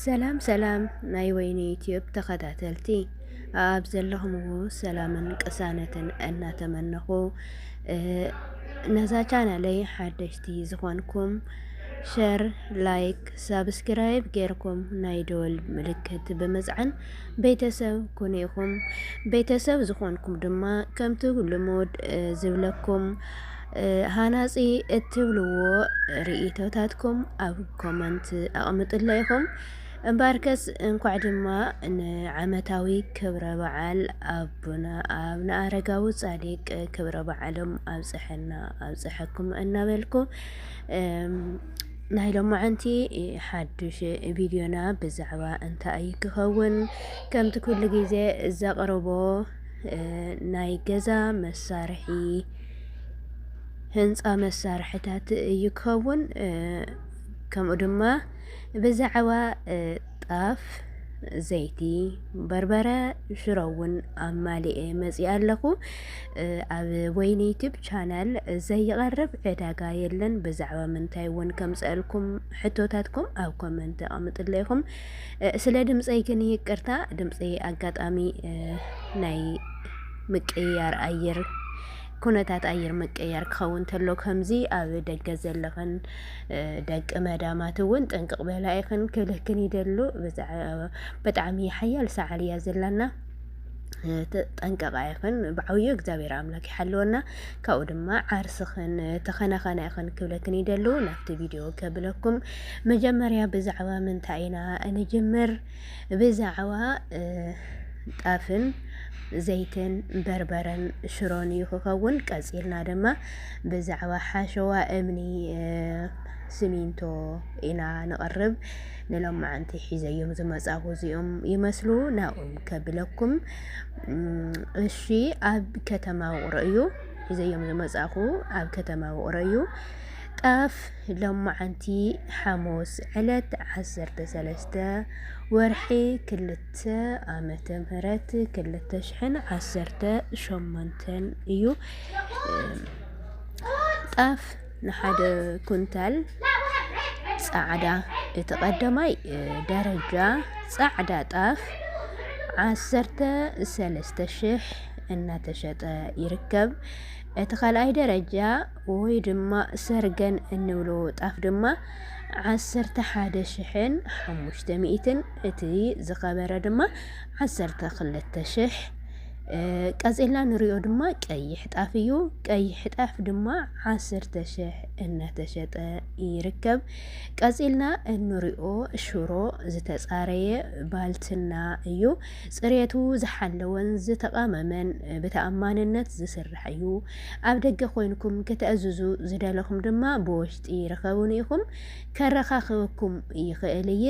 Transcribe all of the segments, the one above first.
ሰላም ሰላም ናይ ወይኒ ዩቲዩብ ተኸታተልቲ ኣብ ዘለኹምዎ ሰላምን ቅሳነትን እናተመነኹ ነዛ ቻናለይ ሓደሽቲ ዝኾንኩም ሸር፣ ላይክ፣ ሳብስክራይብ ጌርኩም ናይ ደወል ምልክት ብምፅዓን ቤተሰብ ኩኑ ኢኹም። ቤተሰብ ዝኾንኩም ድማ ከምቲ ልሙድ ዝብለኩም ሃናጺ እትብልዎ ርእይቶታትኩም ኣብ ኮመንት ኣቕምጥለ ኢኹም። እምበኣርከስ እንኳዕ ድማ ንዓመታዊ ክብረ በዓል ኣቡነ ኣብነ ኣረጋዊ ጻዲቅ ክብረ በዓሎም ኣብጽሐና ኣብጽሐኩም እናበልኩ ናይ ሎማዓንቲ ሓዱሽ ቪድዮና ብዛዕባ እንታይ ክኸውን ከምቲ ኩሉ ግዜ ዘቕርቦ ናይ ገዛ መሳርሒ ህንፃ መሳርሕታት እዩ ክኸውን። ከምኡ ድማ ብዛዕባ ጣፍ፣ ዘይቲ፣ በርበረ፣ ሽሮ እውን ኣማሊኤ መፂኣ ኣለኹ። ኣብ ወይኒ ዩቲብ ቻናል ዘይቐርብ ዕዳጋ የለን። ብዛዕባ ምንታይ እውን ከምፀአልኩም ሕቶታትኩም ኣብ ኮመንት ኣቐምጥለይኹም። ስለ ድምፀይ ግን ይቅርታ፣ ድምፀይ ኣጋጣሚ ናይ ምቅይያር ኣየር ኩነታት ኣየር ምቅያር ክኸውን ተሎ ከምዚ ኣብ ደገ ዘለኽን ደቂ መዳማት እውን ጥንቅቕ በላ ኢኽን ክልክን ይደሉ ብጣዕሚ ሓያል ሰዓል እያ ዘላና ጠንቀቃ ይኽን ብዓብዩ እግዚኣብሔር ኣምላክ ይሓልወና ካብኡ ድማ ዓርስኽን ተኸናኸና ይኽን ክብለክን ይደሉ ናብቲ ቪድዮ ከብለኩም መጀመርያ ብዛዕባ ምንታይ ኢና እንጅምር ብዛዕባ ጣፍን ዘይትን በርበረን ሽሮን እዩ ክኸውን። ቀጺልና ድማ ብዛዕባ ሓሸዋ እምኒ ስሚንቶ ኢና ንቕርብ። ንሎማዓንቲ ሒዘዮም ዝመጻኹ እዚኦም ይመስሉ ናብኦም ከብለኩም። እሺ ኣብ ከተማ ውቕሮ እዩ ሒዘዮም ዝመጻኹ ኣብ ከተማ ውቕሮ እዩ ጣፍ ሎማዕንቲ ሓሙስ ዕለት ዓሰርተ ሰለስተ ወርሒ ክልተ ዓመተ ምህረት ክልተ ሽሕን ዓሰርተ ሸሞንተን እዩ። ጣፍ ንሓደ ኩንታል ጻዕዳ እቲ ቀዳማይ ደረጃ ጻዕዳ ጣፍ ዓሰርተ ሰለስተ ሽሕ እናተሸጠ ይርከብ። እቲ ካልኣይ ደረጃ ወይ ድማ ሰርገን እንብሎ ጣፍ ድማ ዓሰርተ ሓደ ሽሕን ሓሙሽተ ሚእትን እቲ ዝኸበረ ድማ ዓሰርተ ክልተ ሽሕ ቀፂልና ንሪኦ ድማ ቀይሕ ጣፍ እዩ። ቀይሕ ጣፍ ድማ ዓሰርተ ሽሕ እናተሸጠ ይርከብ። ቀፂልና እንሪኦ ሽሮ ዝተፃረየ ባልትና እዩ። ፅሬቱ ዝሓለወን ዝተቃመመን ብተኣማንነት ዝስራሕ እዩ። ኣብ ደገ ኮይንኩም ከተእዝዙ ዝደለኹም ድማ ብወሽጢ ርኸቡኒ ኢኹም ከረኻኽበኩም ይኽእል እየ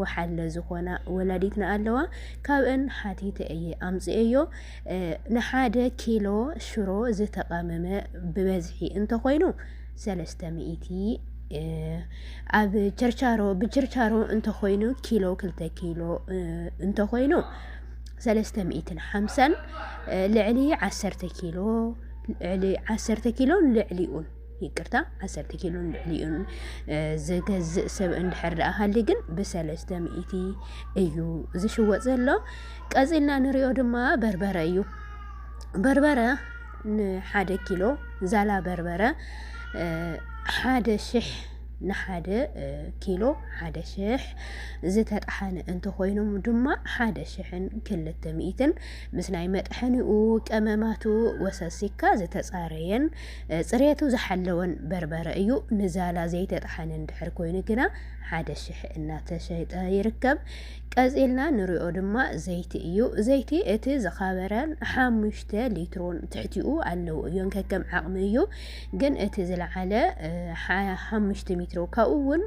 ወሓለ ዝኾና ወላዲትና ኣለዋ ካብእን ሓቲተ እየ ኣምፅኤዮ ንሓደ ኪሎ ሽሮ ዝተቐመመ ብበዝሒ እንተኾይኑ ሰለስተ ሚእቲ ኣብ ቸርቻሮ ብቸርቻሮ እንተኾይኑ ኪሎ ክልተ ኪሎ እንተኾይኑ ሰለስተ ሚእትን ሓምሳን ልዕሊ ዓሰርተ ኪሎ ልዕሊ ዓሰርተ ኪሎን ልዕሊኡን ይቅርታ ዓሰርተ ኪሎ ልዕሊኡን ዝገዝእ ሰብ እንድሕር ደኣ ሃሊ ግን ብሰለስተ ሚእቲ እዩ ዝሽወጥ ዘሎ። ቀፂልና ንሪኦ ድማ በርበረ እዩ። በርበረ ንሓደ ኪሎ ዛላ በርበረ ሓደ ሽሕ ንሓደ ኪሎ ሓደ ሽሕ ዝተጣሓነ እንተኾይኑ ድማ ሓደ ሽሕን ክልተ ሚእትን ምስ ናይ መጥሐኒኡ ቀመማቱ ወሰሲካ ዝተፃረየን ፅሬቱ ዝሓለወን በርበረ እዩ። ንዛላ ዘይተጣሓነ እንድሕር ኮይኑ ግና ሓደ ሽሕ እናተሸጠ ይርከብ። ቀፂልና ንሪኦ ድማ ዘይቲ እዩ። ዘይቲ እቲ ዝኸበረን ሓሙሽተ ሊትሮን ትሕቲኡ ኣለዉ እዮን ከከም ዓቕሚ እዩ። ግን እቲ ዝለዓለ ሓሙሽተ ሜትሮ ካብኡ እውን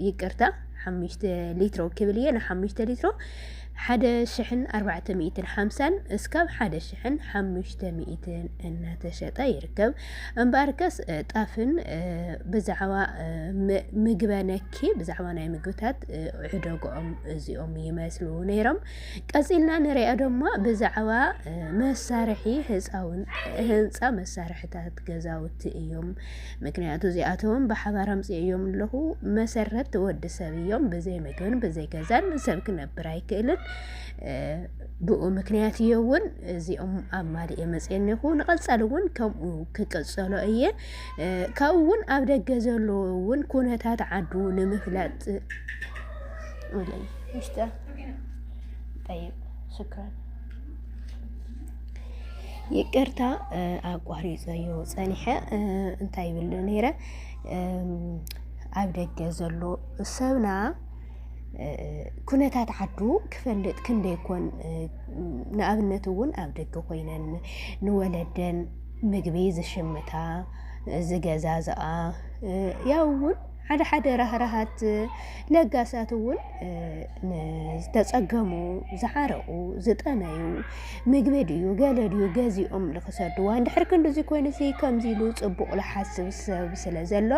ይቅርታ ሓሙሽተ ሊትሮ ክብል እየ ንሓሙሽተ ሊትሮ ሓደ ሽሕን ኣርባዕተ ሚእትን ሓምሳን እስካብ ሓደ ሽሕን ሓሙሽተ ሚእትን እናተሸጠ ይርከብ። እምበኣርከስ ጣፍን ብዛዕባ ምግበ ነኪ ብዛዕባ ናይ ምግብታት ዕደግኦም እዚኦም ይመስሉ ነይሮም። ቀጺልና ንሪኦ ድማ ብዛዕባ መሳርሒ ህፃውን ህንፃ መሳርሕታት ገዛውቲ እዮም። ምክንያቱ እዚኣቶም ብሓባር ኣምፅኦም ኣለኹ መሰረት ወዲ ሰብ እዮም። ብዘይ ምግብን ብዘይ ገዛን ሰብ ክነብር ኣይክእልን። ብኡ ምክንያት እየ እውን እዚኦም ኣብ ማል እየ መፅየኒ ይኹ ንቐፃሊ እውን ከምኡ ክቅፀሎ እየ ካብኡ እውን ኣብ ደገ ዘሎ እውን ኩነታት ዓዱ ንምፍላጥ ጠይብ ሽክረን ይቅርታ ኣቋሪፀዮ ፀኒሐ እንታይ ይብል ነይረ ኣብ ደገ ዘሎ ሰብና ኩነታት ዓዱ ክፈልጥ ክንደይ ኮን ንኣብነት እውን ኣብ ደገ ኮይነን ንወለደን ምግቢ ዝሽምታ ዝገዛዝኣ ያው እውን ሓደ ሓደ ራህራሃት ለጋሳት እውን ንዝተፀገሙ ዝሓረቑ ዝጠመዩ ምግቢ ድዩ ገለ ድዩ ገዚኦም ንክሰድዋ እንድሕር ክንዲዚ ኮይኑ እዚ ከምዚ ኢሉ ፅቡቕ ዝሓስብ ሰብ ስለ ዘሎ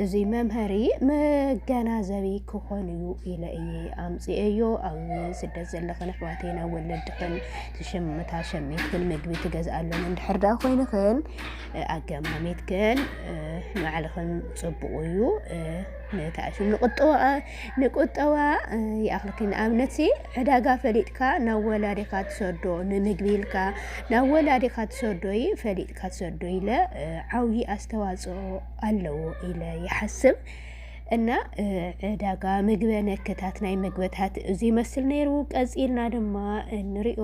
እዚ መምሀሪ መገናዘቢ ክኾን እዩ ኢለ እየ ኣምፅኤዮ ኣብ ስደት ዘለኽን ኣሕዋተይ ናብ ወለድኽን ትሽምታ ሸሚትክን ምግቢ ትገዝኣለን እንድሕር ዳኣ ኮይንኽን ኣገማሚትክን ንባዕልኽን ፅቡቕ እዩ ንታሽ ንቁጠባ ንቁጠባ ይኣኽልኪ ንኣብነት ዕዳጋ ፈሊጥካ ናብ ወላዲኻ ትሰዶ ንምግቢ ኢልካ ናብ ወላዲኻ ትሰዶ እዩ ፈሊጥካ ትሰዶ ኢለ ዓብዪ ኣስተዋፅኦ ኣለዎ ኢለ ይሓስብ እና ዕዳጋ ምግበ ነክታት ናይ ምግበታት እዚ ይመስል ነይሩ። ቀፂልና ድማ እንሪኦ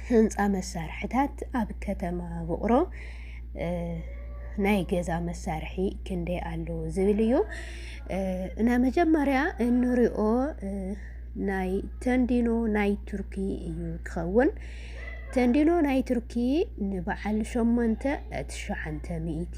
ህንፃ መሳርሕታት ኣብ ከተማ ውቕሮ ናይ ገዛ መሳርሒ ክንደይ ኣለዎ ዝብል እዩ እና መጀመርያ እንሪኦ ናይ ተንዲኖ ናይ ቱርኪ እዩ ክኸውን ተንዲኖ ናይ ቱርኪ ንበዓል ሸሞንተ ትሸዓንተ ሚእቲ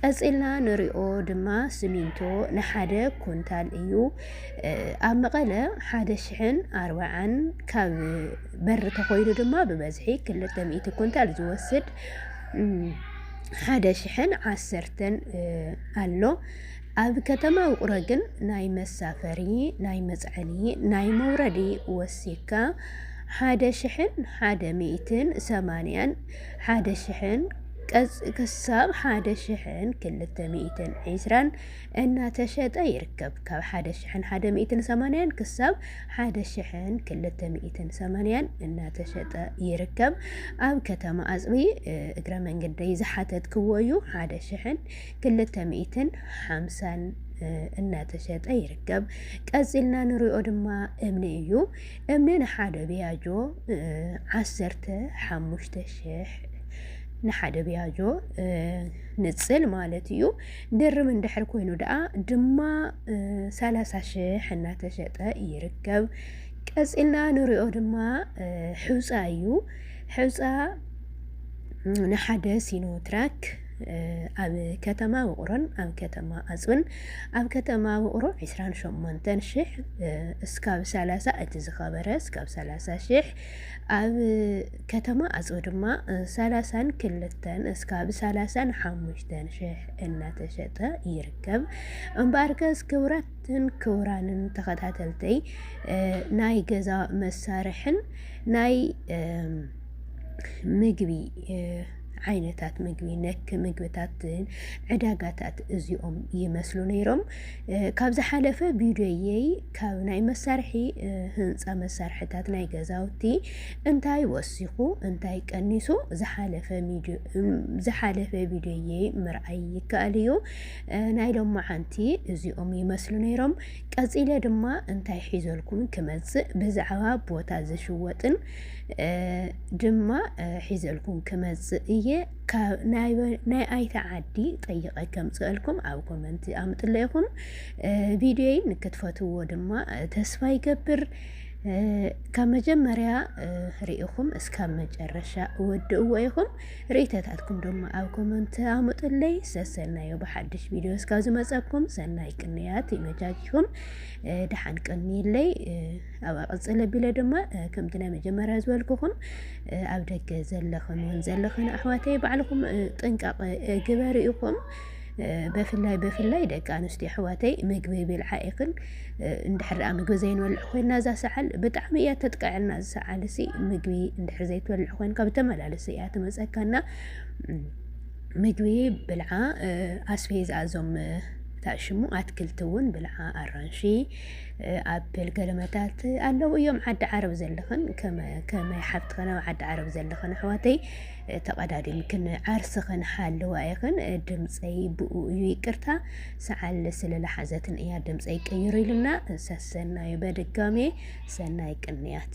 ቀጺልና ንሪኦ ድማ ስሚንቶ ንሓደ ኩንታል እዩ ኣብ መቐለ ሓደ ሽሕን ኣርባዓን ካብ በር ተኾይኑ ድማ ብበዝሒ ክልተ ሚእቲ ኩንታል ዝወስድ ሓደ ሽሕን ዓሰርተን ኣሎ ኣብ ከተማ ውቕሮ ግን ናይ መሳፈሪ ናይ መፅዐኒ ናይ መውረዲ ወሲካ ሓደ ሽሕን ሓደ ሚእትን ሰማንያን ሓደ ሽሕን ክሳብ ሓደ ሽሕን ክልተ ሚእትን ዒስራን እናተሸጠ ይርከብ። ካብ ሓደ ሽሕን ሓደ ሚእትን ሰማንያን ክሳብ ሓደ ሽሕን ክልተ ሚእትን ሰማንያን እናተሸጠ ይርከብ። ኣብ ከተማ ኣፅቢ እግረ መንገደይ ዝሓተትክዎ እዩ። ሓደ ሽሕን ክልተ ሚእትን ሓምሳን እናተሸጠ ይርከብ። ቀፂልና ንሪኦ ድማ እምኒ እዩ። እምኒ ንሓደ ቢያጆ ዓሰርተ ሓሙሽተ ሽሕ ንሓደ ቢያጆ ንጽል ማለት እዩ። ድርም እንድሕር ኮይኑ ደኣ ድማ ሰላሳ ሽሕ እናተሸጠ ይርከብ። ቀጺልና ንሪኦ ድማ ሕውፃ እዩ። ሕውፃ ንሓደ ሲኖትራክ ኣብ ከተማ ውቕሮን ኣብ ከተማ ኣፅብን ኣብ ከተማ ውቕሮ ዕስራን ሸሞንተን ሽሕ እስካብ ሰላሳ እቲ ዝኸበረ እስካብ ሰላሳ ሽሕ ኣብ ከተማ ኣፅቢ ድማ ሰላሳን ክልተን እስካብ ሰላሳን ሓሙሽተን ሽሕ እናተሸጠ ይርከብ። እምበኣርከስ ክብራትን ክብራንን ተኸታተልተይ ናይ ገዛ መሳርሕን ናይ ምግቢ ዓይነታት ምግቢ ነክ ምግብታትን ዕዳጋታት እዚኦም ይመስሉ ነይሮም። ካብ ዝሓለፈ ቪድዮየይ ካብ ናይ መሳርሒ ህንፃ መሳርሕታት ናይ ገዛውቲ እንታይ ወሲኹ እንታይ ቀኒሱ ዝሓለፈ ቪድዮየይ ምርኣይ ይከኣል እዩ። ናይ ሎማዓንቲ እዚኦም ይመስሉ ነይሮም። ቀፂለ ድማ እንታይ ሒዘልኩም ክመፅእ ብዛዕባ ቦታ ዝሽወጥን ድማ ሒዘልኩም ክመጽእ እየ ናይ ኣይተ ዓዲ ጠይቐ ከምፅአልኩም ኣብ ኮመንቲ ኣምጥለ ይኹም ቪድዮይ ንክትፈትዎ ድማ ተስፋ ይገብር። ካብ መጀመርያ ርኢኹም እስካብ መጨረሻ እወድእዎ ኢኹም ርእተታትኩም ድማ ኣብ ኮመንት ኣምጡለይ። ሰሰናዮ ብሓድሽ ቪድዮ እስካብ ዝመፀኩም ሰናይ ቅንያት ይመጃጅኹም። ደሓን ቅንይለይ ኣብኣ ቅፅል ኣቢለ ድማ ከምቲ ናይ መጀመርያ ዝበልኩኹም ኣብ ደገ ዘለኽን እውን ዘለኽን ኣሕዋተይ ባዕልኹም ጥንቃቐ ግበሩ ኢኹም በፍላይ በፍላይ ደቂ ኣንስትዮ ኣሕዋተይ ምግቢ ብልዓ ኢኽን እንድሕር ኣ ምግቢ ዘይንበልዕ ኮይና እዛ ሰዓል ብጣዕሚ እያ ተጥቅዐና እዚ ሰዓል እዚ ምግቢ እንድሕር ዘይትበልዕ ኮይንካ ብተመላለሲ እያ ትመፀካና ምግቢ ብልዓ ኣስፌዛ እዞም ታሽሙ ኣትክልቲ እውን ብልዓ ኣራንሺ ኣብል ገለመታት ኣለዉ እዮም ዓዲ ዓረብ ዘለኽን ከመይ ሓብትኽን ኣብ ዓዲ ዓረብ ዘለኽን ኣሕዋተይ ተቐዳዲምክን ዓርስኽን ሓለዋ ኢኽን ድምፀይ ብኡ እዩ ይቅርታ ሰዓል ስለለሓዘትን እያ ድምፀይ ቀይሩ ኢልና ሰሰናዩ በድጋሜ ሰናይ ቅንያት